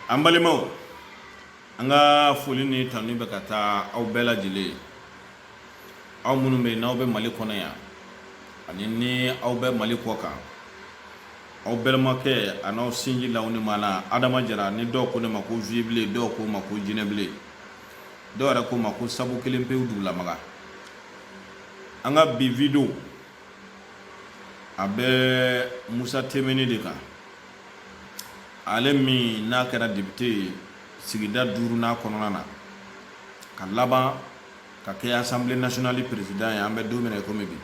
an balimaw an ka foli ni tanu bɛ ka taa aw bɛɛ lajɛlen ye aw minnu bɛ yen n'aw bɛ mali kɔnɔ yan ani ni aw bɛ mali kɔ kan aw balimakɛ a n'aw sinji la ni ma na adama jara ni dɔw ko ne ma ko vibilen dɔw ko ma ko jinɛbilen dɔw yɛrɛ ko ma ko sabu kelen pewu dugulamaga an ka bi video a bɛ musa temeni de kan ale min n'a kɛra depite ye sigida duurunan kɔnɔna na ka laban ka kɛ asanbile nasiyɔnali perezidan ye an bɛ don min na komi bi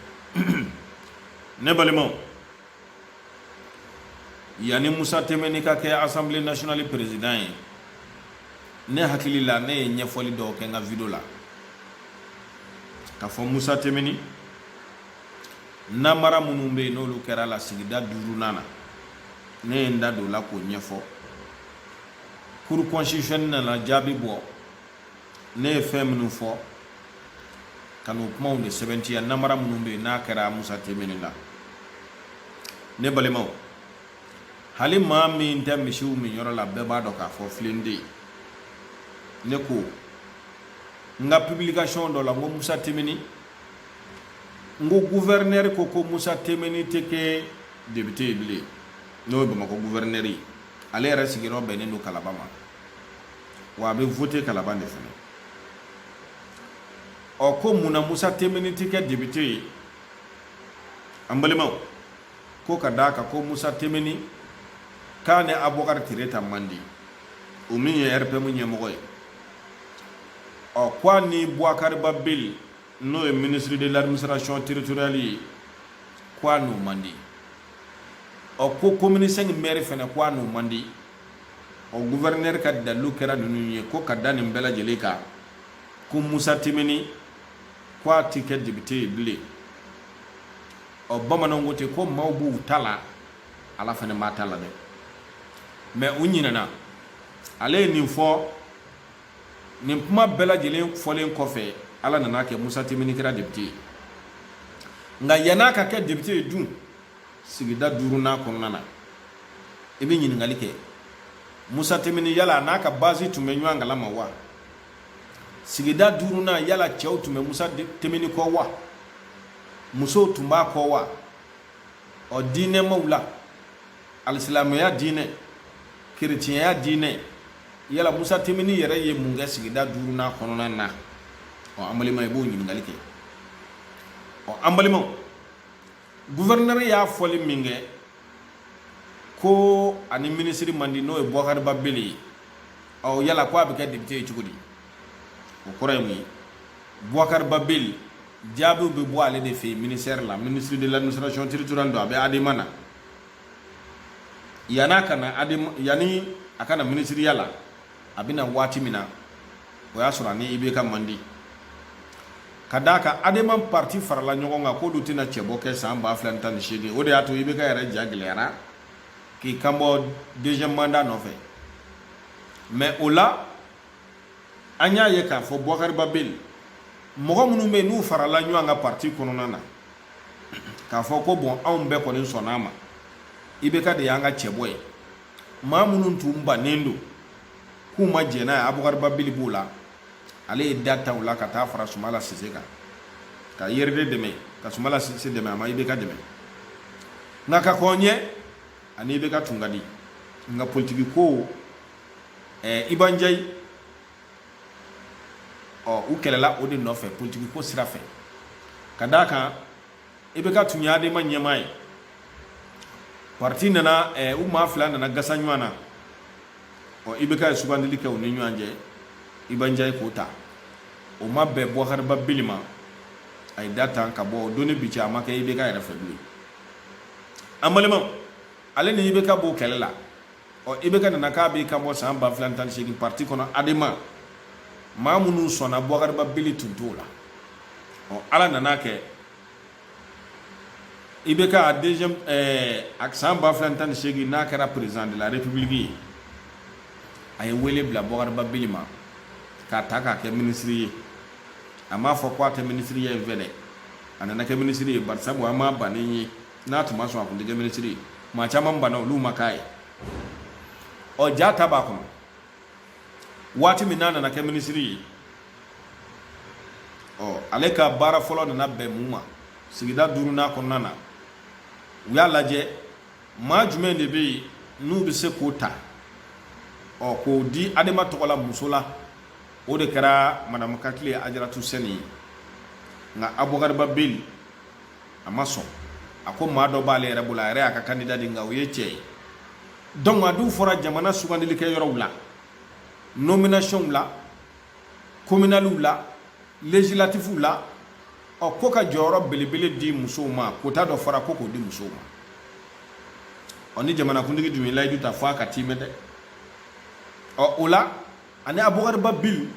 ne balimaw yanni musa temeni ka kɛ asanbile nasiyɔnali perezidan ye ne hakili la ne ye ɲɛfɔli dɔw kɛ n ka video la k'a fɔ musa temeni namara minnu bɛ yen n'olu kɛra la sigida duurunan na ne ye n da don o la k'o ɲɛfɔ kuru kɔnsititisiyɔnɛli nana jaabi bɔ ne ye fɛn minnu fɔ ka n'o kumaw de sɛbɛntiya namara minnu bɛ yen n'a kɛra musa temini la ne balimaw hali maa min tɛ misiw minyɔrɔ la bɛɛ b'a dɔn k'a fɔ filen tɛ ne ko n ka pibilikasiyɔn dɔ la n ko musa temini n ko guvɛrinɛri ko ko musa temeni tɛ kɛ depite ye bilen n'o ye bamakɔ guvɛrinɛri ye ale yɛrɛ sigiyɔrɔ bɛnnen don kalaban ma wa a bɛ vote kalaban de fana ɔ ko mun na musa temeni tɛ kɛ depite ye an balimaw ko ka d'a kan ko musa temeni k'a ni abubakari tereta man di o min ye rpm ɲɛmɔgɔ ye ɔ ko a ni buwakari ba bili n'o ye ministre de l'administration territoriale ye ko a n'o man di ɔ ko commune 5 maire fana ko a n'o man di ɔ gouverneur ka dalilu kɛra ninnu ye ko ka da nin bɛɛ lajɛlen kan ko musa temeni ko a tɛ kɛ depite ye bilen ɔ bamananw ko ten ko maaw b'u ta la ala fana b'a ta la dɛ mɛ u ɲinɛna ale ye nin fɔ nin kuma bɛɛ lajɛlen fɔlen kɔfɛ ala nan'a kɛ musa temini kɛra depite ye nka yann'a ka kɛ depite ye dun sigida duurunan kɔnɔna na i bɛ ɲininkali kɛ musa temini yala a n'a ka bazi tun bɛ ɲɔgɔn kalama wa sigida duurunan yala cɛw tun bɛ musa temini kɔ wa musow tun b'a kɔ wa ɔ diinɛmaw la alisilamɛya diinɛ kerecɛnya diinɛ yala musa tenbine yɛrɛ ye mun kɛ sigida duurunan kɔnɔna na ɔ an balima i b'o ɲininkali kɛ ɔ an balimaw guvɛrinɛri y'a fɔli min kɛ ko a ni minisiri man di n'o ye bɔkari ba bili ye ɔ yala ko a bɛ kɛ depite ye cogo di o kɔrɔ ye mun ye bɔkari ba bili jaabiw bɛ bɔ ale de fɛ yen ministère la ministre de l'administration territoriale don a bɛ adema na yann'a ka na ade yanni a ka na minisiriya la a bɛ na waati min na o y'a sɔrɔ a ni ibk man di ka d'a kan adema parti farala ɲɔgɔn kan k'olu tɛna cɛbɔ kɛ san ba fila ni tan ni seegin o de y'a to ibk yɛrɛ ja gɛlɛyara k'i kanbɔ deuxième mandat nɔfɛ mais o la an y'a ye k'a fɔ bɔkari ba bili mɔgɔ minnu bɛ yen n'u farala ɲɔgɔn kan parti kɔnɔna na k'a fɔ ko bon anw bɛɛ kɔni sɔnn'a ma ibk de y'an ka cɛbɔ ye maa minnu tun bannen don k'u ma jɛn n'a ye abukari ba bili b'o la ale ye da tan o la ka taa fara sumala sise kan ka urd dɛmɛ ka sumala sise dɛmɛ a ma ibk dɛmɛ nka ka kɔn ɲɛ a ni ibk tun ka di nka politiki ko ɛɛ iba njayi ɔ u kɛlɛla o de nɔfɛ politiki ko sira fɛ ka d'a kan ibk tun y'adema ɲɛmaa ye parti nana ɛɛ u maa fila nana gasa ɲɔgɔn na ɔ ibk ye sugandili kɛ u ni ɲɔgɔn cɛ iba njayi k'o ta o ma bɛn bubakari ba bili ma a ye da tan ka bɔ o don ni bi cɛ a ma kɛ ibk yɛrɛ fɛ bilen an balimaw ale ni ibk b'o kɛlɛ la ɔ ibk nana k'a b'i kanbɔ san ba fila ni tan ni seegin pariti kɔnɔ adema maa minnu sɔnna bubakari ba bili tun t'o la ɔ ala nan'a kɛ ibk deuxième ɛɛ a san ba fila ni tan ni seegin n'a kɛra président de la république ye a ye wele bila bubakari ba bili ma k'a ta k'a kɛ minisiri ye a m'a fɔ ko a tɛ minisiriya in fɛ dɛ a nana kɛ minisiri ye bari sabu an m'a bannen ye n'a tun ma sɔn a kun tɛ kɛ minisiri ye maa caman banna olu ma k'a ye ɔ ja ta b'a kɔnɔ waati min n'a nana kɛ minisiri ye ɔ ale ka baara fɔlɔ nana bɛn mun ma sigida duurunan kɔnɔna na u y'a lajɛ maa jumɛn de bɛ yen n'u bɛ se k'o ta ɔ k'o di adema tɔgɔ la muso la o de kɛra madamu katile ajaratu sɛni ye nka abubakari ba bili a ma sɔn a ko maa dɔ b'ale yɛrɛ bolo a yɛrɛ y'a ka kandida di nka o ye cɛ ye donc a dun fɔra jamana sugandilikɛ yɔrɔw la nominationw la communaliw la législatifuw la ɔ ko ka jɔyɔrɔ belebele di musow ma kota dɔ fɔra ko k'o di musow ma ɔ ni jamanakuntigi dun ye layidu ta fɔ a ka tiimɛ dɛ ɔ o la ani abubakari ba bili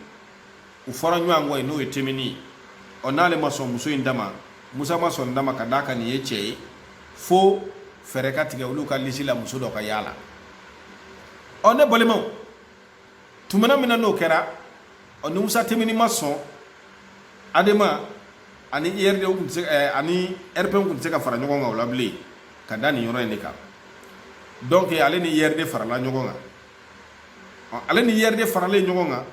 u fɔra ɲɔgɔn kɔ ye n'o ye temini ye ɔ n'ale ma sɔn muso in dama musa ma sɔn dama ka d'a kan nin ye cɛ ye fo fɛɛrɛ ka tigɛ olu ka lisi la muso dɔ ka y'a la ɔ ne balimaw tumana min na n'o kɛra ɔ ni musa temini ma sɔn adema ani urd tun tɛ se eh, ani rpm tun tɛ se ka fara ɲɔgɔn kan o la bilen ka da nin yɔrɔ in de kan donc ale ni urd farala ɲɔgɔn kan ale ni urd faralen ɲɔgɔn kan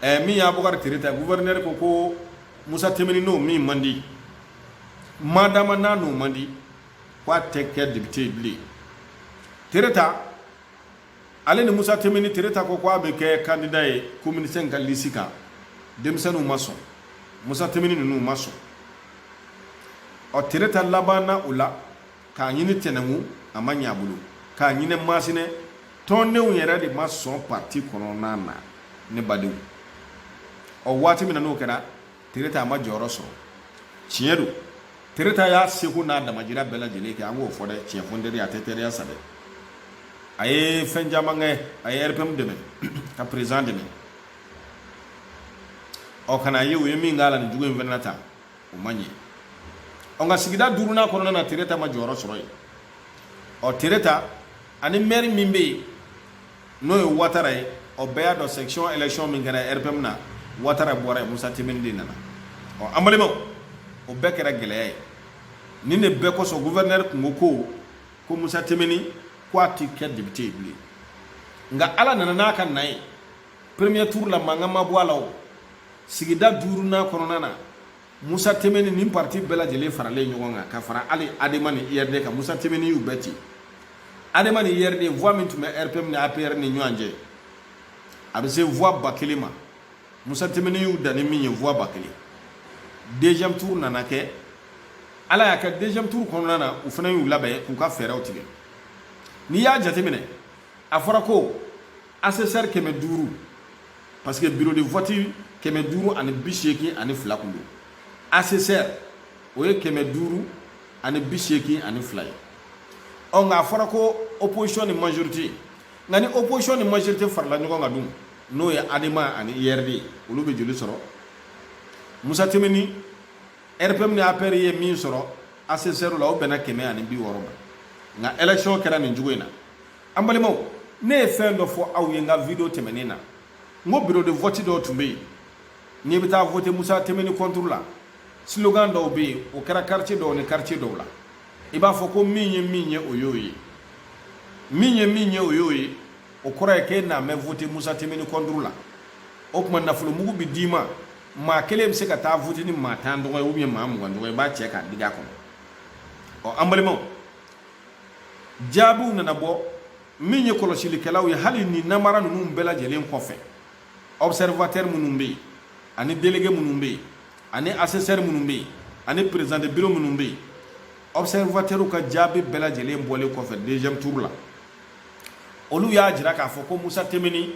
ɛɛ min y'a bɔkari tereta guvɛrinɛri ko ko musa temini n'o min man di madama n'a n'o man di k'a tɛ kɛ depite ye bilen tereta ale ni musa temini tereta ko k'a bɛ kɛ kandida ye commune cinq ka lisi kan denmisɛnninw ma sɔn musa temini ninnu ma sɔn ɔ tereta labanna o la k'a ɲini tɛnɛngu a ma ɲɛ a bolo k'a ɲini masina tɔndenw yɛrɛ de ma sɔn parti kɔnɔna na ne badenw ɔ waati min na n'o kɛra tereta a ma jɔyɔrɔ sɔrɔ tiɲɛ don tereta y'a seko n'a damajira bɛɛ lajɛlen kɛ an k'o fɔ dɛ tiɲɛ fɔ n teri y'a tɛ teriya sa dɛ a ye fɛn caman kɛ a ye rpm dɛmɛ ka perezan dɛmɛ ɔ nka n'a ye u ye min k'a la nin jugu in fana tan o man ɲi ɔ nka sigida duurunan kɔnɔna na tereta ma jɔyɔrɔ sɔrɔ yen ɔ tereta ani mɛri min bɛ yen n'o ye watara ye ɔ bɛɛ y'a dɔn section election min kɛra rpm na watara bɔra yen musa temini de nana ɔ an balimaw o bɛɛ kɛra gɛlɛya ye nin de bɛɛ kosɔn guvɛrinɛri tun ko ko ko musa temini ko a ti kɛ depite ye bilen nka ala nana n'a ka na ye premier tour la mankan ma bɔ a la o sigida duurunan kɔnɔna na musa temeni ni parti bɛɛ lajɛlen faralen ɲɔgɔn kan ka fara hali adema ni urd kan musa temeni y'u bɛɛ ci adema ni urd voix min tun bɛ rpm ni apr ni ɲɔgɔn cɛ a bɛ se voix ba kelen ma musa temeni y'u dan ni min ye voix ba kelen deuxième tour nana kɛ ala y'a kɛ deuxième tour kɔnɔna na u fana y'u labɛn k'u ka fɛɛrɛw tigɛ n'i y'a jateminɛ a fɔra ko asesɛri kɛmɛ duuru parce que bureau de vote kɛmɛ duuru ani bi seegin ani fila kun don asesɛri o ye kɛmɛ duuru ani bi seegin ani fila ye ɔ nka a fɔra ko opposition ni majorité nka ni opposition ni majorité farala ɲɔgɔn kan dun n'o ye adema ani urd ye olu bɛ joli sɔrɔ musa timbine rpm ni apr ye min sɔrɔ asesɛri la o bɛnna kɛmɛ ani bi wɔɔrɔ ma nka election kɛra nin cogo in na an balimaw ne ye fɛn dɔ fɔ aw ye n ka video tɛmɛnen na n ko biro de vote dɔw tun bɛ yen n'i bɛ taa vote musa timbine kɔnturu la slogan dɔw bɛ yen o kɛra quartier dɔw ni quartier dɔw la i b'a fɔ ko min ye min ye o y'o ye min ye min ye o y'o ye o kɔrɔ ye k'e mana vote musa timbine kɔnturu la o tuma nafolo mugu bɛ d'i ma maa kelen bɛ se ka taa vote ni maa tan tɔgɔ ye maa mugan tɔgɔ ye i b'a cɛ k'a digi a kɔnɔ ɔ an balimaw jaabiw nana bɔ min ye kɔlɔsilikɛlaw ye hali nin namara ninnu bɛɛ lajɛlen kɔfɛ observateur minnu bɛ yen ani délégué minnu bɛ yen ani assesseur minnu bɛ yen ani président de bureau minnu bɛ yen observateurw ka jaabi bɛɛ lajɛlen bɔlen kɔfɛ deuxième tour la olu y'a jira k'a fɔ ko Musa Timbine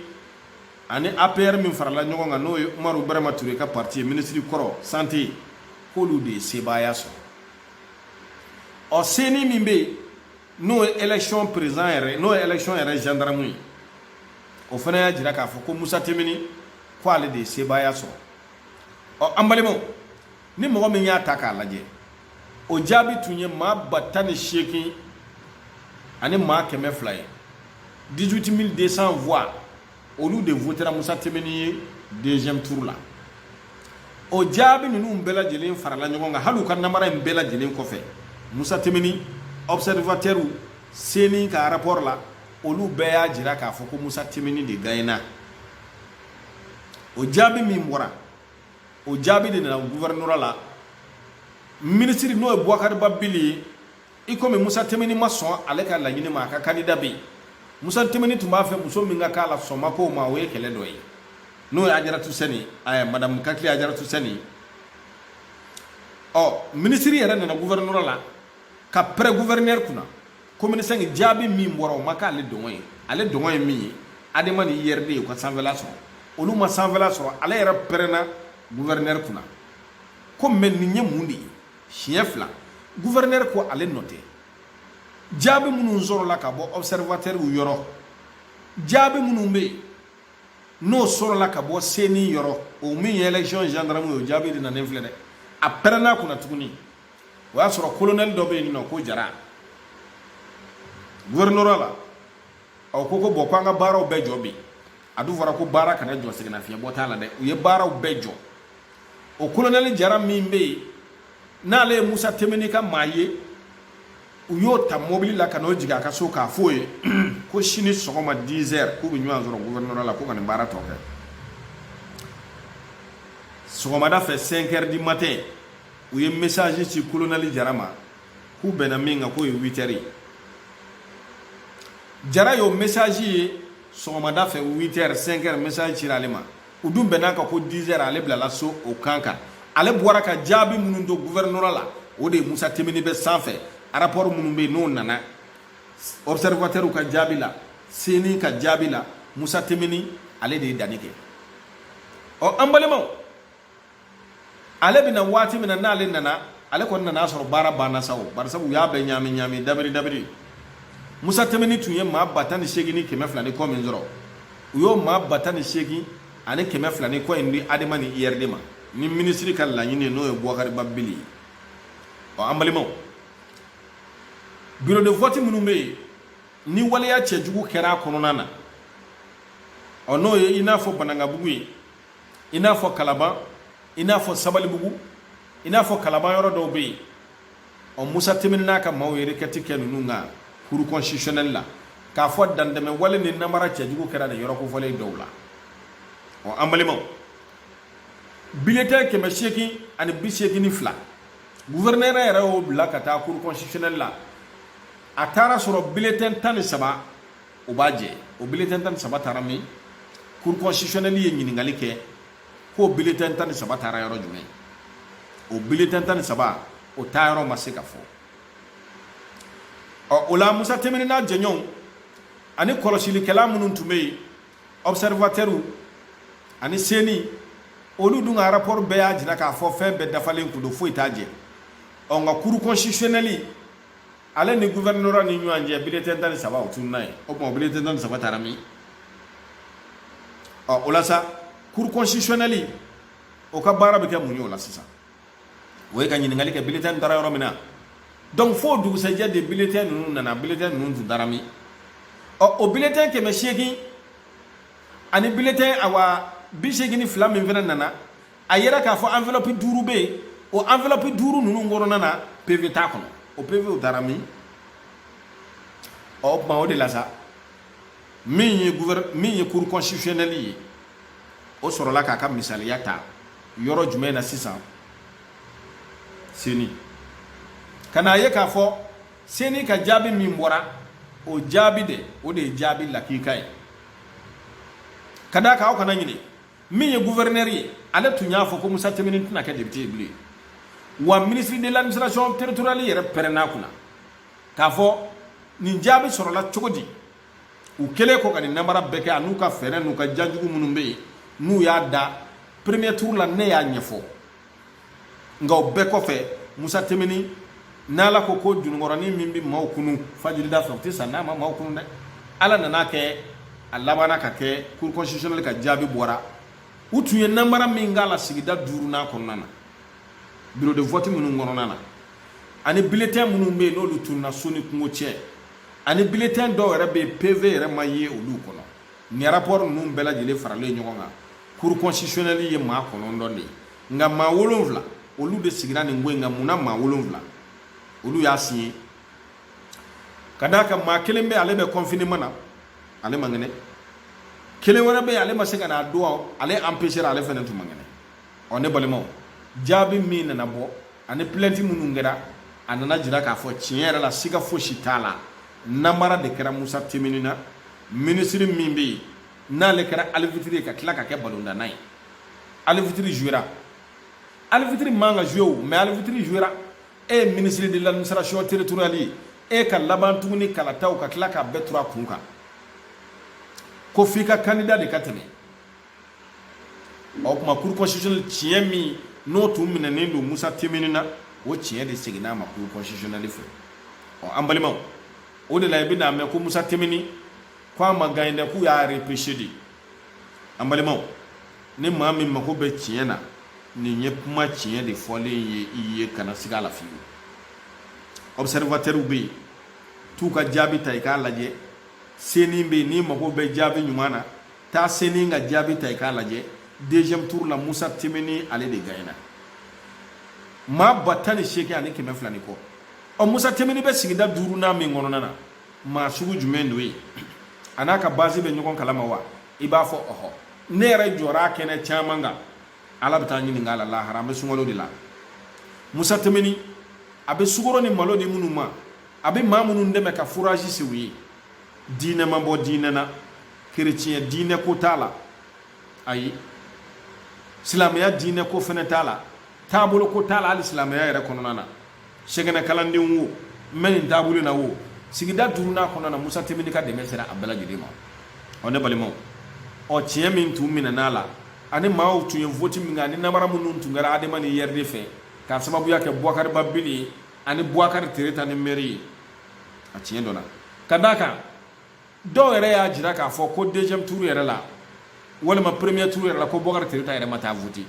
ani APR min farala ɲɔgɔn kan n'o ye Umaru Burama Ture ka parti ye ministre kɔrɔ santé k'olu de ye sebaaya sɔrɔ ɔ ceni min bɛ yen n'o ye election président yɛrɛ n'o ye election yɛrɛ gendarme ye o fana y'a jira k'a fɔ ko musa timbine ko ale de ye sebaaya sɔrɔ ɔ an balimaw ni mɔgɔ min y'a ta k'a lajɛ o jaabi tun ye maa ba tan ni seegin ani maa kɛmɛ fila ye 18200 voix olu de votera musa timbine ye deuxième tour la o jaabi ninnu bɛɛ lajɛlen farala ɲɔgɔn kan hali u ka namara in bɛɛ lajɛlen kɔfɛ musa timbine observatɛriw ceni ka rapport la olu bɛɛ y'a jira k'a fɔ ko musa timbine de gaɲɛna o jaabi min bɔra o jaabi de nana guvɛrinora la minisiri n'o ye bubakari ba bili ye i komi musa timbine ma sɔn ale ka laɲini ma a ka kandida bɛ yen musa timbine tun b'a fɛ muso min ka k'a la sɔn ma k'o ma o ye kɛlɛ dɔ ye n'o ye ajaratu sɛnɛ ɛɛ madamu katile ajaratu sɛnɛ ɔ minisiri yɛrɛ nana guvɛrinora la ka pɛrɛn guvɛrinɛri kunna komini sɛnki jaabi min bɔra o ma k'ale dungɔ ye ale dungɔ ye min ye adema ni urd u ka sanfɛla sɔrɔ olu ma sanfɛla sɔrɔ ale yɛrɛ pɛrɛnna guvɛrinɛri kunna ko mɛ nin ye mun de ye siɲɛ fila guvɛrɛnɛri ko ale nɔ tɛ jaabi minnu sɔrɔla ka bɔ ɔbsɛrivatɛriw yɔrɔ jaabi minnu bɛ yen n'o sɔrɔla ka bɔ seni yɔrɔ o min ye election gendarme ye o jaabi de nanen filɛ dɛ a pɛrɛnna kunna tuguni o y'a sɔrɔ kolonɛli dɔ bɛ yen n'o ko jara guvɛrinɔra la ɔ ko ko bon ko an ka baaraw bɛɛ jɔ bi a dun fɔra ko baara kana jɔ sɛgɛnnafiɲɛbɔ t'a la dɛ u ye baaraw bɛɛ jɔ o kolonɛli jara min bɛ yen n'ale ye musa tinbinɛ ka maa ye u y'o ta mobili la ka n'o jigin a ka so k'a f'o ye ko sini sɔgɔma 10 heures k'u bɛ ɲɔgɔn sɔrɔ gouvernorat la ko ka nin baara tɔ kɛ sɔgɔmada fɛ 5 heures du matin u ye message ci kolonɛli jara ma k'u bɛnna min kan k'o ye 8 heures ye jara y'o message ye sɔgɔmada fɛ 8 heures 5 heures message cira ale ma u dun bɛnna a kan ko dizɛr ale bilala so o kan kan ale bɔra ka jaabi minnu to guvɛrinɔra la o de musa tinbinɛ bɛ sanfɛ arapɔri minnu bɛ yen n'o nana obsɛrivatɛriw ka jaabi la seni ka jaabi la musa tinbinɛ ale de ye danni kɛ ɔ an balimaw ale bɛna waati min na n'ale nana ale kɔni nana sɔrɔ baara banna sa o bari sabu u y'a bɛɛ ɲaami ɲaami dabiri dabiri musa tinbinɛ tun ye maa ba tan ni seegin ni kɛmɛ fila ni kɔ min sɔrɔ u y'o maa ba tan ni seegin ani kɛmɛ fila ni kɔ in di adema ni urd ma ni minisiri ka laɲini n'o ye buwakari ba bili ye ɔ an balimaw biro de vɔti minnu bɛ yen ni waleya cɛjugu kɛra a kɔnɔna na ɔ n'o ye i n'a fɔ banankabugu ye i n'a fɔ kalaban i n'a fɔ sabalibugu i n'a fɔ kalaban yɔrɔ dɔw bɛ yen ɔ musa tinbinɛ n'a ka maaw ye requête kɛ ninnu kan cour constitutionnelle la k'a fɔ dantɛmɛ wale ni namara cɛjugu kɛra nin yɔrɔ kofɔlen dɔw la ɔ an balimaw biletɛn kɛmɛ seegin ani bi seegin ni fila guvɛrɛnɛrɛ yɛrɛ y'o bila ka taa cour constitutionnelle la a taara sɔrɔ biletɛn tan ni saba o b'a jɛ o biletɛn tan ni saba taara min cour constitutionnelle ye ɲininkali kɛ k'o biletɛn tan ni saba taara yɔrɔ jumɛn o biletɛn tan ni saba o taayɔrɔ ma se ka fɔ ɔ o la musa tinbinɛ n'a jɛɲɔgɔnw ani kɔlɔsilikɛla minnu tun bɛ yen observatɛriw ani seni olu dun ka rapport bɛɛ y'a jira k'a fɔ fɛn bɛɛ dafalen kun don foyi t'a jɛ ɔ nka cour constitutionnelle ale ni guvɛrinɔra ni ɲɔgɔn cɛ biletɛn tan ni saba o tununna yen o tuma biletɛn tan ni saba taara min ɔ o la sa cour constitutionnelle o ka baara bɛ kɛ mun ye o la sisan o ye ka ɲininkali kɛ biletɛn taara yɔrɔ min na donc fo dugusɛjɛ de biletɛn ninnu nana biletɛn ninnu tun taara min ɔ o biletɛn kɛmɛ seegin ani biletɛn awa bi seegin ni fila min fana nana a yɛrɛ k'a fɔ enveloppe duuru bɛ yen o enveloppe duuru ninnu kɔnɔna na pv t'a kɔnɔ o pv o taara min ɔ o tuma o de la sa min ye gouver min ye cour constitutionnelle ye o sɔrɔla k'a ka misaliya ta yɔrɔ jumɛn na sisan ceni ka n'a ye k'a fɔ ceni ka jaabi min bɔra o jaabi de o de ye jaabi lakika ye ka d'a kan aw kana ɲinɛ min ye gouverneur ye ale tun y'a fɔ ko musa timbiné tɛna kɛ député ye bilen wa ministre de l'administration territoriale yɛrɛ pɛrɛnn'a kunna k'a fɔ nin jaabi sɔrɔla cogo di u kɛlen kɔ ka nin namara bɛɛ kɛ an'u ka fɛɛrɛ n'u ka jan jugu minnu bɛ yen n'u y'a da premier tour la ne y'a ɲɛfɔ nka o bɛɛ kɔfɛ musa timbiné n'ala ko ko jununkɔrɔnin min bɛ maaw kunu fajirida fɛ o tɛ sa n'a ma maaw kunu dɛ ala nan'a kɛ a labanna ka kɛ cour constitutionnelle ka jaabi bɔra u tun ye namara min k'a la sigida duurunan kɔnɔna na bureau de vote minnu kɔnɔna na ani bulletin minnu bɛ yen n'olu tununna so ni kungo cɛ ani bulletin dɔw yɛrɛ bɛ yen pv yɛrɛ ma ye olu kɔnɔ nin rapport ninnu bɛɛ lajɛlen faralen ɲɔgɔn kan cour constitutionnelle ye maa kɔnɔntɔn de ye nka maa wolonwula olu de sigira nin ko in kan mun na maa wolonwula olu y'a signé ka d'a kan maa kelen bɛ ale bɛ confinement na ale man kɛnɛ kelen wɛrɛ bɛ yen ale ma se ka na donc ale empêché ale fana tun man kɛnɛ ɔ ne balimaw jaabi min nana bɔ ani plainte minnu kɛra a nan'a jira k'a fɔ tiɲɛ yɛrɛ la siga fosi t'a la namara de kɛra musa timbiné na minisiri min bɛ yen n'ale kɛra alifitiri ye ka tila ka kɛ balontanna ye alifitiri jouera alifitiri man ka jouer o mais alifitiri jouera e ye ministre de l'administration territoriale ye e ka laban tuguni kalataw ka tila k'a bɛɛ turu a kun kan ko f'i ka candidat de ka tɛmɛ o tuma cour constitutionnelle tiɲɛ min n'o tun minɛnen don musa timbiné na o tiɲɛ de seginna a ma cour constitutionnelle fɛ ɔ an balimaw o de la i bɛn'a mɛn ko musa timbiné ko a ma gagné dɛ k'u y'a repêché de an balimaw ni maa min mako bɛ tiɲɛ na nin ye kuma tiɲɛ de fɔlen ye i ye kana siga a la fiyewu observateurw bɛ yen t'u ka jaabi ta i k'a lajɛ ceni bɛ yen n'i mago bɛ jaabi ɲuman na taa ceni ka jaabi ta i k'a lajɛ deuxième tour la musa timbiné ale de gagnera maa ba tan ni seegin ani kɛmɛ fila ni kɔ ɔ musa timbiné bɛ sigida duurunan min kɔnɔna na maa sugu jumɛn don ye a n'a ka base bɛ ɲɔgɔn kalama wa i b'a fɔ ɔhɔ ne yɛrɛ jɔra a kɛnɛ caman kan ala bɛ taa ɲininka a la lahara an bɛ sunkalo de la musa timbiné a bɛ sukaro ni malo di minnu ma a bɛ maa minnu dɛmɛ ka forage sen u ye diinɛ ma bɔ diinɛ na kereciyɛ diinɛ ko t'a la ayi silamɛya diinɛ ko fɛnɛ t'a la taabolo ko t'a la hali silamɛya yɛrɛ kɔnɔna na sɛki nin kalanden wo n bɛ nin taabolo na wo sigida duurunan kɔnɔna na musa temini ka dɛmɛ sera a bɛɛ lajɛlen ma ɔ ne balimaw ɔ tiɲɛ min tun minɛn'a la ani maaw tun ye voti min kɛ ani namara minnu tun kɛra adema ni urd fɛ k'a sababuya kɛ buwakari ba bili ani buwakari tereta ni mɛri ye a tiɲɛ dɔ la ka d'a kan dɔw yɛrɛ y'a jira k'a fɔ ko deuxième tour yɛrɛ la walima premier tour yɛrɛ la ko bɔkari tereta yɛrɛ ma taa vote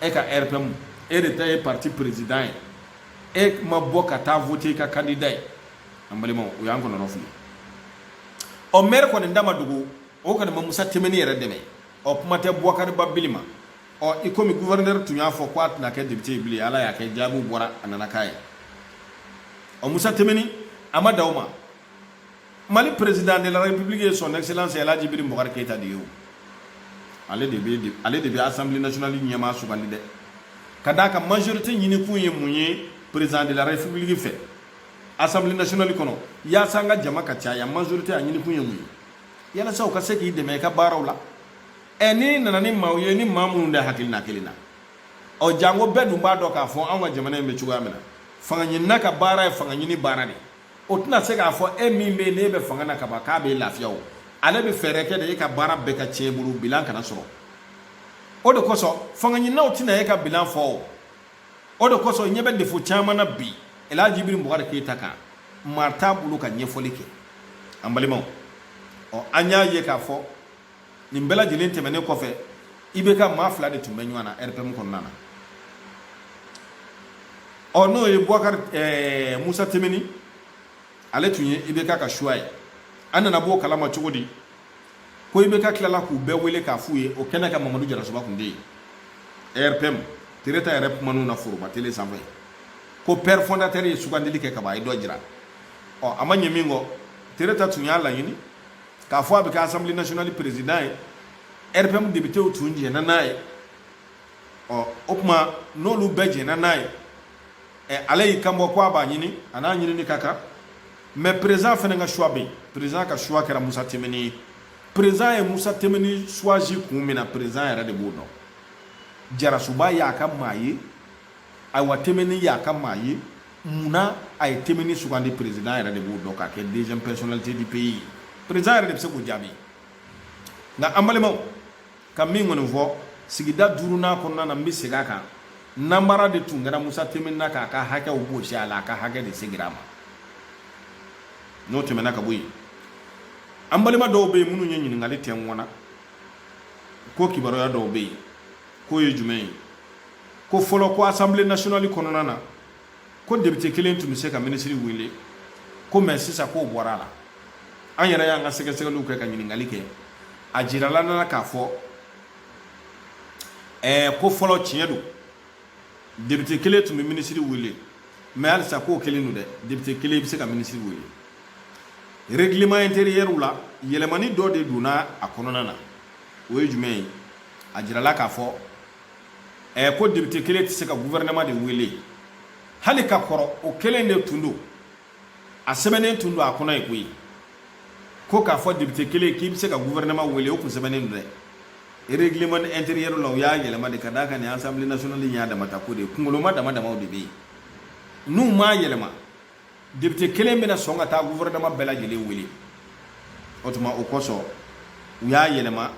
e ka rpm e de ta ye parti président ye e ma bɔ ka taa vote i ka candidat ye an balimaw o y'an kɔnɔnɔ fili ɔ maire kɔni da ma dogo o kɔni ma musa temeni yɛrɛ dɛmɛ ɔ kuma tɛ bɔkari ba bili ma ɔ i komi guvɛrɛnɛri tun y'a fɔ ko a tɛna kɛ depite ye bilen ala y'a kɛ jaabiw bɔra a nana k'a ye ɔ musa temeni a ma da o ma mali président de la république ye son excellence alhaji ibrahim bubakari keyita de ye o ale de bɛ ale de bɛ assemblée nationale ɲɛmaa sugandi dɛ ka d'a kan majorité ɲinikun ye mun ye président de la république fɛ assemblée nationale kɔnɔ yaasa an ka jama ka caya majorité a ɲinikun ye mun ye yalasa u ka se k'i dɛmɛ i ka baaraw la ɛ ni nana ni maaw ye ni maa minnu de hakilina kelen na ɔ janko bɛɛ dun b'a dɔn k'a fɔ anw ka jamana in bɛ cogoya min na fanga ɲinina ka baara ye fanga ɲini baara de o tɛna se k'a fɔ e min bɛ yen n'e bɛ fanga na kaban k'a b'e lafiya o ale bɛ fɛɛrɛ kɛ de e ka baara bɛɛ ka tiɲɛ bolo bilan kana sɔrɔ o de kosɔn fanga ɲininaw tɛna e ka bilan fɔ o o de kosɔn ɲɛ bɛ défaut caman na bi elhaji ibrahim bubakari keyita kan maa t'a bolo ka ɲɛfɔli kɛ an balimaw ɔ an y'a ye k'a fɔ nin bɛɛ lajɛlen tɛmɛnen kɔfɛ ibk maa fila de tun bɛ ɲɔgɔn na rpm kɔnɔna na ɔ n'o ye bubakari eh, musa temeni ale tun ye ibk ka choix ye an nana b'o kalama cogo di ko ibk tilala k'u bɛɛ wele k'a f'u ye o kɛnɛ kan mamadu jarasuba tun bɛ yen rpm tereta yɛrɛ kuman'u na foroba tele sanfɛ ko père fondateur ye sugandili kɛ kaban a ye dɔ jira ɔ a ma ɲɛ min kɔ tereta tun y'a laɲini k'a fɔ a bɛ kɛ assemblée nationale président ye rpm députéw tun jɛnna n'a ye ɔ o kuma n'olu bɛɛ jɛnna n'a ye ɛ ale y'i kan bɔ ko a b'a ɲini a n'a ɲinini ka kan mais président fɛnɛ ka choix bɛ yen président ka choix kɛra musa temeni ye président ye musa temeni choisi kun min na président yɛrɛ de b'o dɔn jarasuba y'a ka maa ye ayiwa timbiné y'a ka maa ye mun na a ye timbiné sugandi perezidan yɛrɛ de b'o dɔn k'a kɛ deuxième personnalité du pays perezidan yɛrɛ de bɛ se k'o jaabi nka an balimaw ka min kɔni fɔ sigida duurunan kɔnɔna na n bɛ segin a kan nanbara de tun kɛra musa timbiné na k'a ka hakɛw bɔsi a la a ka hakɛ de segira a ma n'o tɛmɛna ka bɔ yen an balima dɔw bɛ yen minnu ye ɲininkali kɛ n kun na ko kibaruya dɔw bɛ yen k'o ye jumɛn ye ko fɔlɔ ko assemblée nationale kɔnɔna na ko député kelen tun bɛ se ka minisiri wele ko mais sisan k'o bɔra a la an yɛrɛ y'an ka sɛgɛsɛgɛliw kɛ ka ɲininkali kɛ a jirala an na k'a fɔ ɛɛ ko fɔlɔ tiɲɛ don député kelen tun bɛ minisiri wele mais halisa k'o kelen don dɛ député kelen bɛ se ka minisiri wele règlement intérieur la yɛlɛmani dɔ de donna a kɔnɔna na o ye jumɛn ye a jirala k'a fɔ ɛ eh, ko député kelen tɛ se ka gouvernement de wele hali ka kɔrɔ o kelen de tun don a sɛbɛnnen tun don a kɔnɔ yen koyi ko k'a fɔ député kelen k'i bɛ se ka gouvernement wele o kun sɛbɛnnen don dɛ règlement intérieur la u y'a yɛlɛma de ka d'a kan nin assemblée nationale in y'a damata ko de ye kunkoloma dama damaw de bɛ yen n'u m'a yɛlɛma député kelen bɛna sɔn ka taa gouvernement bɛɛ lajɛlen wele o tuma o kosɔn u y'a yɛlɛma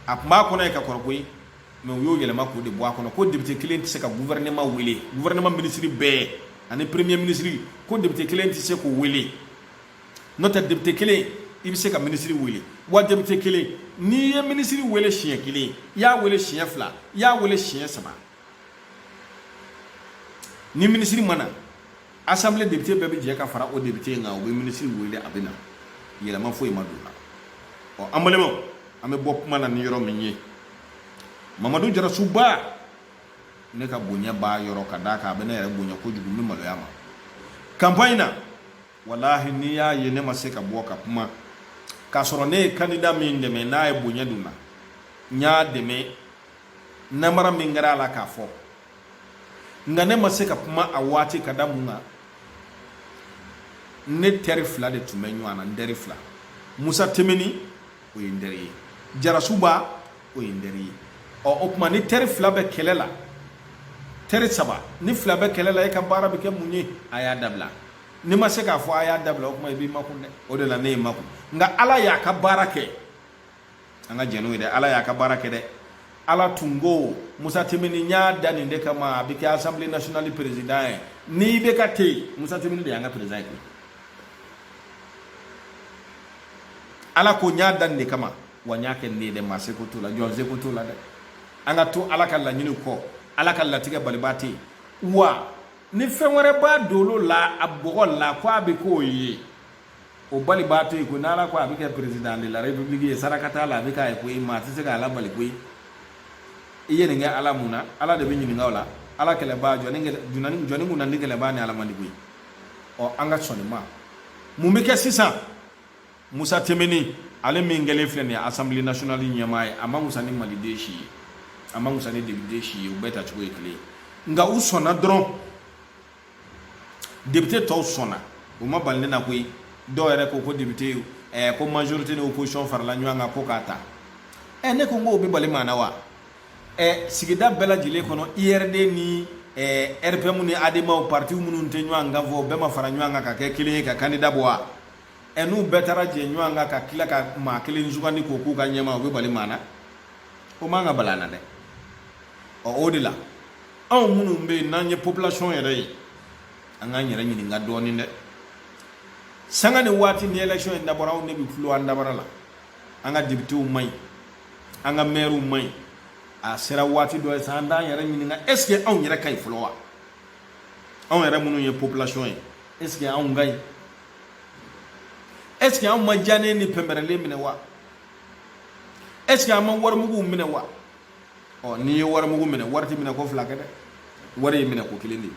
a tun b'a kɔnɔ yen ka kɔrɔ koyi mais u y'o yɛlɛma k'o de bɔ a kɔnɔ ko député kelen tɛ se ka gouvernement wele gouvernement ministre bɛɛ ani premier ministre ko député kelen tɛ se k'o wele n'o tɛ député kelen i bɛ se ka minisiri wele wa député kelen n'i ye minisiri wele siɲɛ kelen i y'a wele siɲɛ fila i y'a wele siɲɛ saba ni minisiri ma na assemblée député bɛɛ bɛ jɛ ka fara o député in kan u bɛ minisiri wele a bɛ na yɛlɛma foyi ma don o la ɔ an balimaw an bɛ bɔ kuma na ni yɔrɔ min ye mamadu jarasuba ne ka bonya b'a yɔrɔ ka d'a kan a bɛ ne yɛrɛ bonya kojugu n bɛ maloya a ma campagne na walahi n'i y'a ye ne ma se ka bɔ ka kuma k'a sɔrɔ ne ye candidat min dɛmɛ n'a ye bonya don n na n y'a dɛmɛ namara min kɛra a la k'a fɔ nka ne ma se ka kuma a waati ka da mun kan ne teri fila de tun bɛ ɲɔgɔn na n teri fila musa timbiné o ye n teri ye jarasuba o ye n teri ye ɔ o tuma ni teri fila bɛ kɛlɛ la teri saba ni fila bɛ kɛlɛ la e ka baara bɛ kɛ mun ye a y'a dabila n'i ma se k'a fɔ a y'a dabila o tuma i b'i makun dɛ o de la ne ye n makun nka ala y'a ka baara kɛ an ka jɛn n'o ye dɛ ala y'a ka baara kɛ dɛ ala tun ko musa timbiné n y'a da nin de kama a bɛ kɛ assemblée nationale président ye n'i bɛ ka te yen musa timbiné de y'an ka président ye ala ko n y'a da nin de kama wa n y'a kɛ nin de ye dɛ maa seko t'o la jɔn seko t'o la dɛ an ka to ala ka laɲiniw kɔ ala ka latigɛ balibaa tɛ yen wa ni fɛn wɛrɛ b'a dolo la a bɔgɔ la ko a bɛ k'o ye o balibaa tɛ yen ko n'ala ko a bɛ kɛ président de la république ye saraka t'a la a bɛ k'a ye koyi maa tɛ se k'a labali koyi i ye nin kɛ ala mun na ala de bɛ ɲininka o la ala kɛlɛbaa jɔni jɔni jɔni kun na ni kɛlɛbaa ni ala man di koyi ɔ an ka sɔn nin ma mun bɛ kɛ sisan musa timbiné ale min kɛlen filɛ nin ye assemblée nationale ɲɛmaa ye a ma wusa ni maliden si ye a ma wusa ni depite si ye u bɛɛ ta cogo ye kelen ye nka u sɔnna dɔrɔn depite tɔw sɔnna o ma bali ne na koyi dɔw yɛrɛ ko ko depite ɛɛ ko majorite ni opposition farala ɲɔgɔn kan ko k'a ta ɛ ne ko n k'o bɛ bali maa na wa ɛ sigida bɛɛ lajɛlen kɔnɔ urd ni ɛɛ rpm ni ademaw partiw minnu tɛ ɲɔgɔn kan fɔ bɛɛ ma fara ɲɔgɔn kan ka kɛ kelen ye ka kandida bɔ wa ɛ n'u bɛɛ taara jɛ ɲɔgɔn kan ka tila ka maa kelen sugandi k'o k'u ka ɲɛmaa o bɛ bali maa na o man ka bali a na dɛ ɔ o de la anw minnu bɛ yen n'an ye population yɛrɛ ye an k'an yɛrɛ ɲininka dɔɔnin dɛ sanga ni waati ni election in dabɔra anw de bɛ tulo an dabara la an ka depitew man ɲi an ka mɛriw man ɲi a sera waati dɔ ye sa an t'an yɛrɛ ɲininka est ce que anw yɛrɛ ka ɲi fɔlɔ wa anw yɛrɛ minnu ye population ye est ce que anw ka ɲi est ce que anw ma diyanen ni pɛnpɛrɛlen minɛ wa est ce que an ma warimuguw minɛ wa ɔ n'i ye warimugu minɛ wari ti minɛ ko fila kɛ dɛ wari ye minɛ ko kelen de ye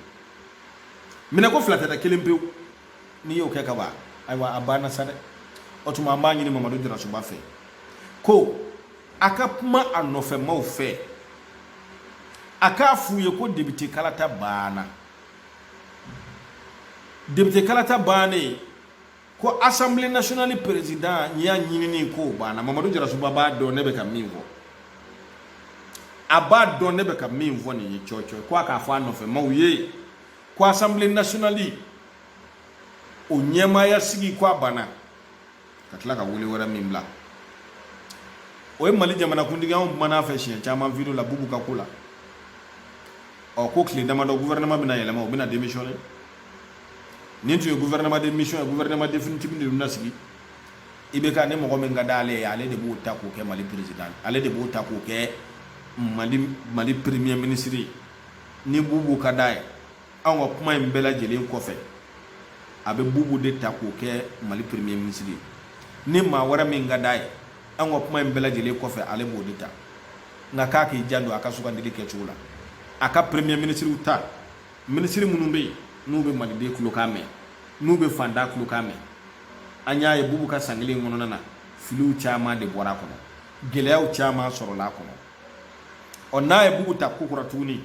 minɛ ko fila tɛ dɛ kelen pewu n'i y'o kɛ ka ban ayiwa a banna sa dɛ o tuma an b'a ɲini mamadu jarasuba fɛ ko a ka kuma a nɔfɛmaw fɛ a k'a f'u ye ko depite kalata banna depite kalata bannen ko assemblée nationale présidentya ɲinini ko banna mamadu jarasuba b'a dɔn ne bɛ ka min fɔ a b'a dɔn ne bɛ ka min fɔ nin ye cɔcɔ ko a k'a fɔ a nɔfɛ maaw ye ko assemblée nationale o ɲɛmaaya sigi ko a banna ka tila ka wele wɛrɛ min bila o ye mali jamanakuntigi anw kumana a fɛ siɲɛ caman video la bubu ka ko la ɔ ko tile damadɔ gouvernement bɛna yɛlɛma o bɛna démissionner nin tun ye gouvernement de mission ye gouvernement définitif de bɛna sigi IBK ni mɔgɔ min ka d'ale ye ale de b'o ta k'o kɛ mali président ale de b'o ta k'o kɛ mali mali premier ministre ye ni bubu ka d'a ye anw ka kuma in bɛɛ lajɛlen kɔfɛ a bɛ bubu de ta k'o kɛ mali premier ministre ye ni maa wɛrɛ min ka d'a ye anw ka kuma in bɛɛ lajɛlen kɔfɛ ale b'o de ta nka k'a k'i janto a ka sugandili kɛcogo la a ka premier ministre ta minisiri minnu bɛ yen n'u bɛ maliden kulokan mɛn n'u bɛ faantan kulokan mɛn an y'a ye bubu ka san kelen kɔnɔna na filiw caman de bɔra a kɔnɔ gɛlɛyaw caman sɔrɔla a kɔnɔ ɔ n'a ye bubu ta ko kura tuguni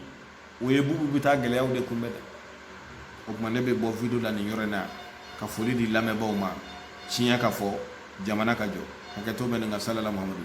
o ye bubu bɛ taa gɛlɛyaw de kunbɛn dɛ o tuma ne bɛ bɔ video la nin yɔrɔ in na ka foli di lamɛnbaaw ma tiɲɛ ka fɔ jamana ka jɔ hakɛto bɛ nin kan salala muhamadu